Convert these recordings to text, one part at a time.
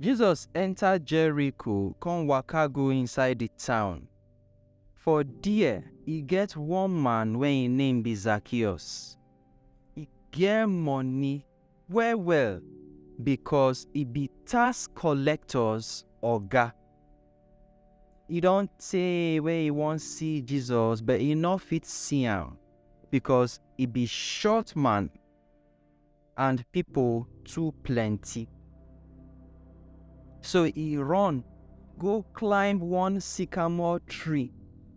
Jesus enta Jeriko kon waka go inside di town. For der, e get one man wey en name bi Zakeus. E get moni well-well bikos e bi tax kollektors oga. E don tey wey e won si Jesus but e nor fit si am bikos e bi short man. and people too plenty. So he run go climb one sycamore tree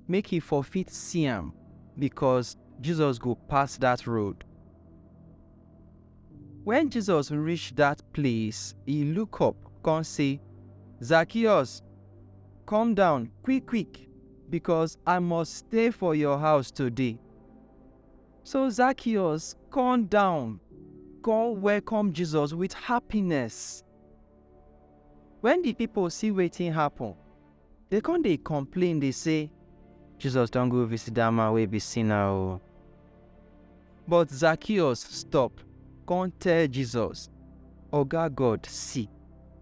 make he for fit see am because Jesus go pass that road. When Jesus reach that place, he look up come say, Zacchaeus, come down quick quick because I must stay for your house today. So Zacchaeus come down, come welcome Jesus with happiness. When the people see wetin happen, they come dey complain, dey say, Jesus don go visit that man wey be sinner o. But Zacchaeus stop, come tell Jesus, Oga God, see,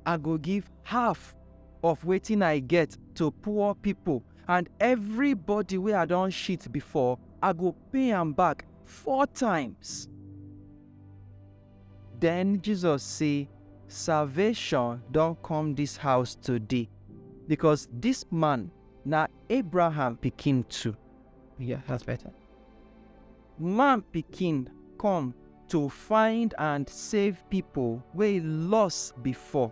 I go give half of wetin I get to poor people and everybody wey I don shit before, I go pay am back four times. Den Jesus say, Salvation don come dis house today, because dis man na Abraham pikin too. Yeah, that's better. Man pikin come to find and save pipo wey loss before.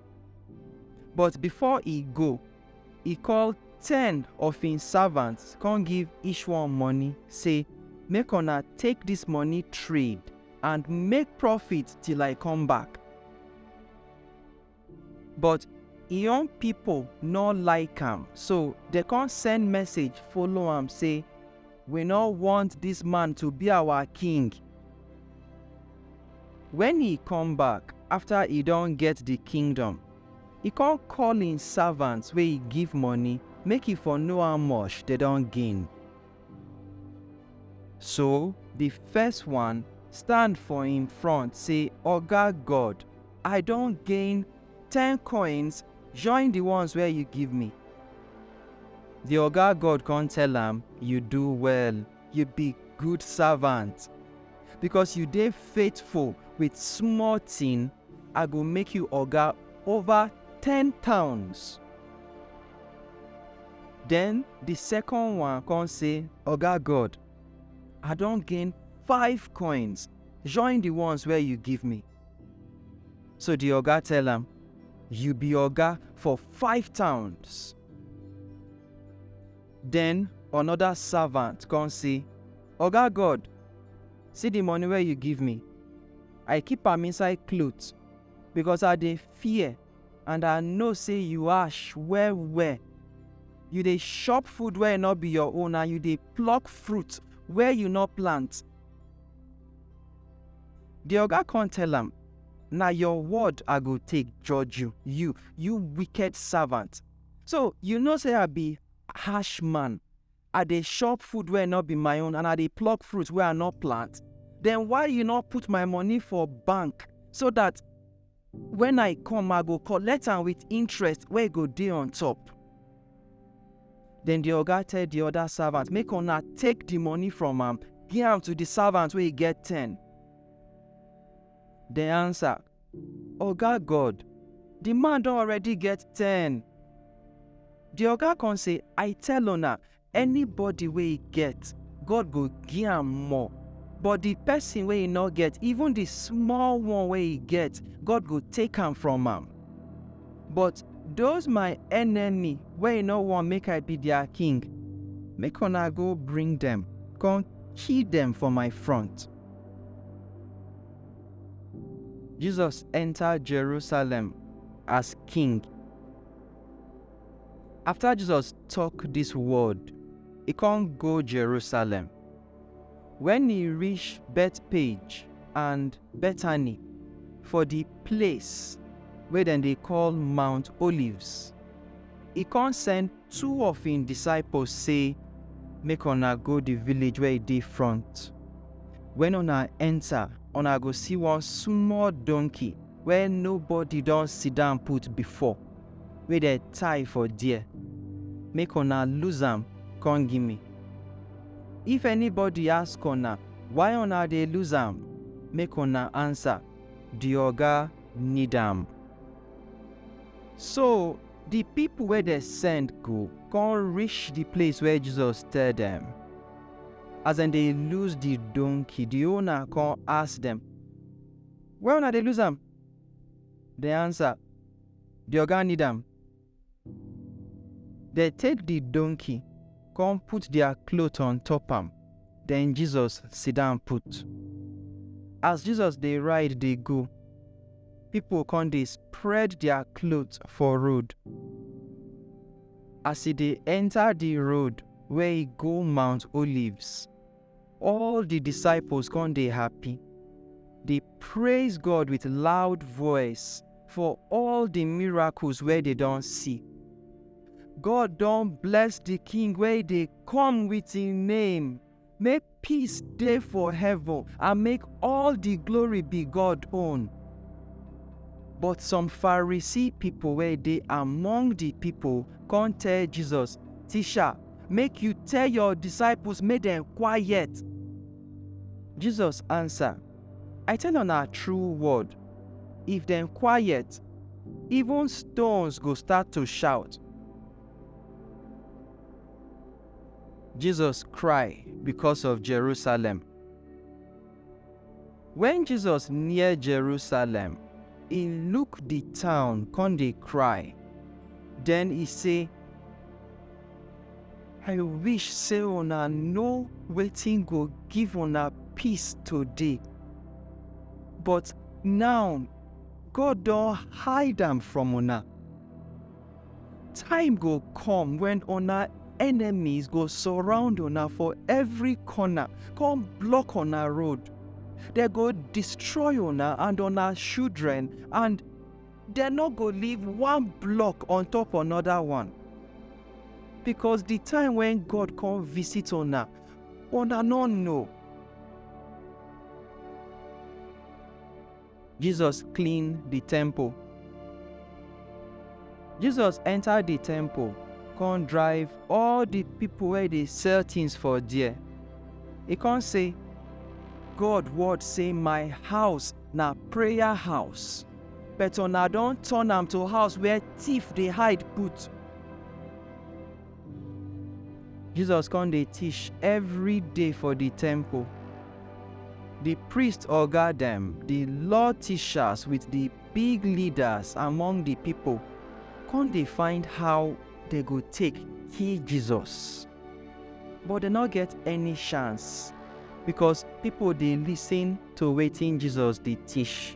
But before e go, e call ten of im servants con give each one money, say, Make una take dis money trade and make profit till I come back. But im own pipo nor like am, so dem con send message follow am say, We no want dis man to be awa king. Wen e come back afta e don get di kingdom, e con call im savants wey e give money make e for know how much dem don gain. So di first one stand for im front sey, Oga God, I don gain ten coins join di ones wey yu give mi. Di oga god kon tell am, Yu do well, yu bi gud savant! Bikos yu dey faithful wit small tin, I go make yu oga ova ten towns. Den di sekon one kon sey, Oga god, I don gain five coins join di ones wey yu give mi. So di oga tell am, You be oga for five towns. Den anoda savant kon sey, Oga God, si di moni wey yu give mi, I keep am inside klot, bikos I dey fear and I know sey yu ash well-well. Yu dey shop food wey nor bi yor own and yu dey plok fruit where yu nor plant. Di oga kon tell am, Na yor word I go take judge yu, yu, yu wiked savant! So yu know sey I bi hash man? I dey shop food wey nor bi my own and I dey pluk fruit wey I nor plant? Den why yu nor put my money for bank so dat. Wen I come, I go collect am with interest wey go dey on top. Den di oga tell di oda savant, Make una take di money from am, gi am to di savant wey get ten. Dem ansa, Oga God, di man don already get ten. Di oga kon sey, I tell una, Anybody wey e get, God go gi am more, but di pesin wey e nor get, even di small one wey e get, God go take am from am. But doz my enemy wey e nor want make I be dia king, make una go bring dem kon kill dem for my front. Jesus enter Jerusalem as king. Afta Jesus tok dis word, e kon go Jerusalem. Wen e rish Bethpage and Bethany for di ples wey dem dey koll Mount Olives, e kon send two of en disciples sey, Make una go di village wey e dey front. Wen una enta, una go si one small donkey wey nobody don sidan put before. wey dem tie for there, make una loose am come give me. If anybody ask una why una dey loose am, make una answer, The Oga need am. So the people wey dem send go come reach the place where Jesus tell dem. As dem dey loose the donkey, the owner come ask dem, Why una dey loose am? Dem answer, Di oga need am. Dem take di donkey kon put dia klot on top am, den Jesus sidan put. As Jesus dey ride dey go, pipol kon dey spread dia klot for road. As e dey enta di road wey go Mount Olives. All the disciples come dey happy, dey praise God with loud voice for all the miracles wey they don see. God don bless the King wey dey come with him name. Make peace dey for heaven and make all the glory be God own. But some Pharisee people wey dey among the people come tell Jesus, Teacher, Make you tell your disciples make dem quiet. Jesus answer, I tell una true word, if dem quiet, even stones go start to shout. Jesus cry because of Jerusalem. Wen Jesus near Jerusalem. E look di town kon dey kry, den e sey. I wish sey una no wetin go give una peace today, but naw God don hide am from una. Time go come when una enemies go surround una for every corner, come block una road. They go destroy una and una children, and they no go leave one block on top another one. Because the time when God come visit una, una no know. Jesus clean di temple. Jesus enter di temple come drive all di pipo wey dey sell tins for there. E come say, God word say my house na prayer house but una don turn am to house where thief dey hide put. Jesus kon dey tish evry day for di temple. Di priest oga dem, di law tishas with di big leadas among di pipol kon dey find how dem go take kill Jesus. But dem nor get any shance, bikos pipol dey listen to wetin Jesus dey tish.